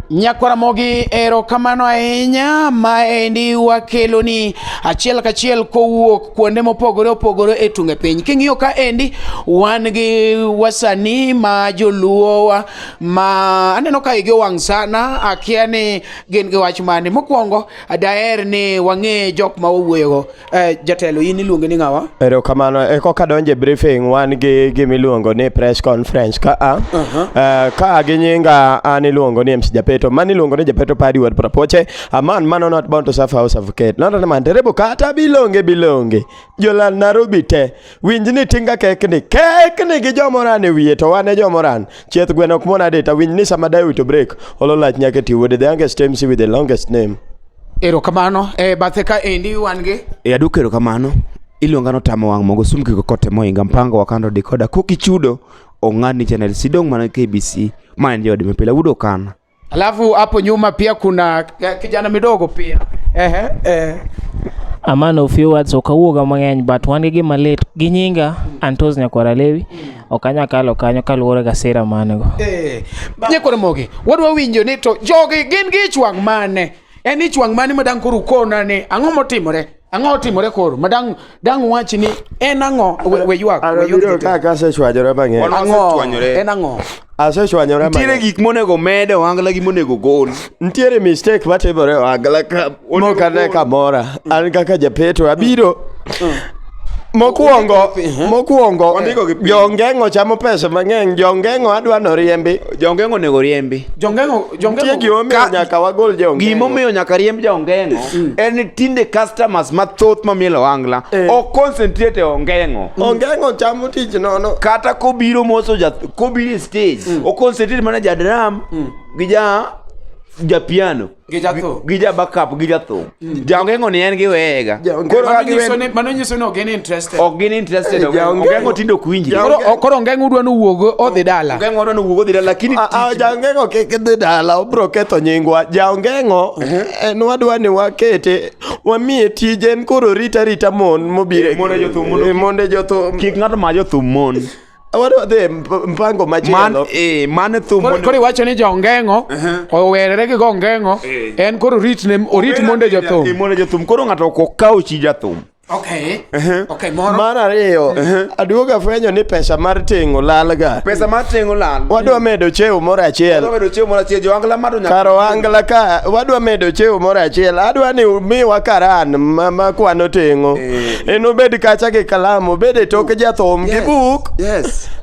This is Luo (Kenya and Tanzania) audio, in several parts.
Nyakwaramogi erokamano ahinya maendi wakeloni achiel kachiel kowuok kuonde mopogore opogore e tunge piny. King'iyo ka endi wan gi wasanii ma joluowa ma aneno ka igi owang' sana, akia ni gin gi wach mane. Mokwongo daher ni wang'e jok ma wawuoyogo. Eh, jatelo in iluonge ni ng'awa erokamano e koka donje briefing wan gi gimiluongo ni press conference ka a eh, ka gi nyinga an iluongo ni MC Japeto man iluongo ni Japeto Paddy Ward Prapoche a man man not born to serve house of Kate not a man terebo kata bilonge bilonge jolal Nairobi te winj ni tinga kekni kekni gi jomoran e wiye to wan e jomoran chieth gweno ok mona deta winj ni sama dayo wito break olo lach nyaka ti wuode the youngest MC with the longest name Erokamano. E eh, bathe ka endi wan gi? E eh, aduka erokamano. Iluonga no tamo wang' mogo sum kiko kote moinga mpango wakando dikoda koki chudo ong'ad ni channel sidong mana KBC ma en jodi mipila wudo kana. Alafu hapo nyuma pia kuna kijana midogo pia. Ehe, eh. eh. A man of few words okawuoga mang'eny but wan gi gima lit gi nyinga Antos Nyakwara Lewi. ok anyal kalo kanyo kaluwore ga sira manego eh, nyekore mogi wadwa winjo ni to jogi gin gi ichwang' mane en ichwang' mane ma dang' koro ukona ni ang'o motimore ang'o otimore koro ma dang' dang' wach ni en ang'o we ywak we ywak ka ka se chwajore bang'e ang'o en ang'o asechwanyore nitiere gik monego med ohangla gi monego gol nitiere mistake matimore ohangla ka Mok ane kamora. An kaka japeto abiro. Mokwongo, mokwongo, Wandiko gi piny. jongeng'o chamo pesa mang'eny, jongeng'o adwa noriembi. Jongeng'o onego oriembi. Jongeng'o Tie jongeng'o gimomiyo Ka- nyaka wagol jongeng'o. Gimomiyo nyaka riemb jaongeng'o en ni tinde customers mathoth mamielo wangla Eh. ok concentrate e ongeng'o. Ongeng'o chamo tich nono. Kata kobiro moso ja kobiro e stage, o concentrate mana ja drum gi ja ja piano. gi jathum gi ja backup gi jathum mm. jaongengo ni en gi wega koro ka giwe mano nyiso ni ok gin interested ok gin interested eh, ongengo tindo ok winji koro koro ongengo udwa ni wuog odhi dala ongengo odwa ni wuog odhi dala lakini ah, ah, jaongengo kik dhi dala obro ketho nyingwa jaongengo mhm. en wadwa ni wakete wamiye tije en koro rita rita mon mobire monde jothum kik ng'ato ma jothum mon Awaro dhi mp- mpango Man, machielo. eh, mano e thum Koro mondo- koro iwacho ni jongeng'o owerere gi gongeng'o Eh. en koro orit ne orit monde Eh, jothum monde jothum koro ng'ato ok okaw chi jathum okay okay moro Mar ariyo, aduoga fwenyo ni pesa mar tingo lalga. pesa mar tengo lal Wadwa medo cheo moro achiel. medo chiemo moro achiel joangla mado nyaka Kar oangla ka wadwa medo cheo moro achiel. Adwa ni umiwa karan ma ma kwano tingo. Eh. enobed kacha gi kalam obed e toke jathum gi buk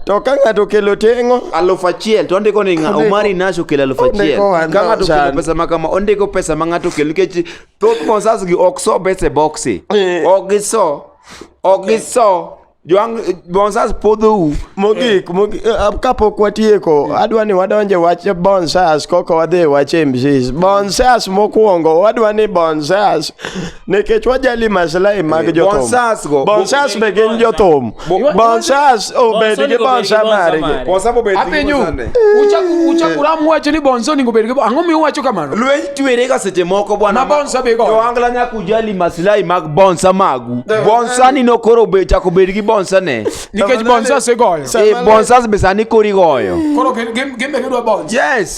to ka ng'ato okelo teng'o aluf achiel to ondiko ni omari nash okelo aluf achiel ka ng'ato okelo pesa ma kama ondiko pesa ma ng'ato okelo nikech thoth mosas gi ok so bese boksi eh. ok giso ok giso Joang bonsas podhou mogik eh. eh, kapok watieko hmm. adwa ni wadonje wach bonsas koko wadhi wach mcs bonsas mokwongo wadwa ni bonsas nikech wajali maslahi mag eh, jothum bonsas go bonsas be gin jothum bonsas obed gi bonsa margi bonsa bobed gi bonsa uchaku uchaku ram wacho ni bonso ningo bed gi ang'o mi uwacho kamano lweny twere ga seche moko bwana bonsa be go to angla nyaku ujali maslahi mag bonsa magu eh. bonsa ni nokoro be chako bed gi bonsa ne nikech bonsas igoyo eh bonsas be sani kori goyo koro gin gin be gidwa bonsa yes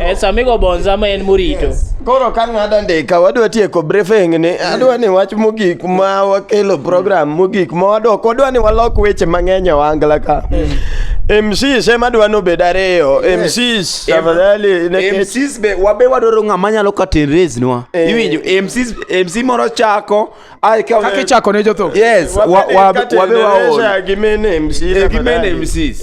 Eh, sami go bonza ma en morito koro ka ng'ada ndika wadwa tieko briefing ni adwa ni wach mogik ma wakelo program mogik ma wadok wadwa ni walok weche mang'eny e wangla ka MCs ema dwa nobed ariyo MCs tafadhali nekech- MCs be wabe wadwaro ng'ama nyalo curtain raise nwa Eh. iwinjo MCs MC moro chako Ai ka kake chako ne jotho. Yes, wa wa wa be wa ol. Gimene MC. Eh, gimene MC.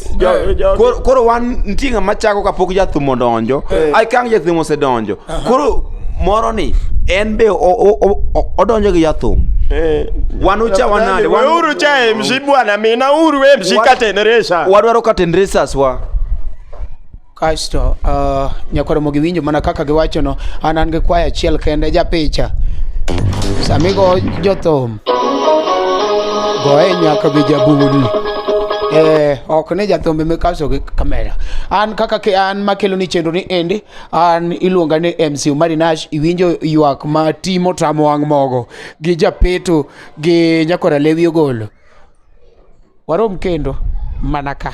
Koro koro wan ntinga machako kapok jathumo donjo. Eh. Ai kang jathumo se donjo. Koro moro ni en be odonjo gi jathum eh. wan ucha wanade weuru cha emshi bwana mina uru emshi katenresha wadwaro katenresas wa kasto uh, nyakoro mogi winjo mana kaka giwachono an an gi kwaya achiel kende japicha samigo jothum goye nyaka gi jabudi Eh, ok ni jathumbe mikaso gi kamera an kaka ke an makelo ni chenro ni endi an iluonga ni mc umari nash iwinjo ywak ma timo tamo wang' mogo gi japeto gi nyakora lewi ogolo warom kendo mana ka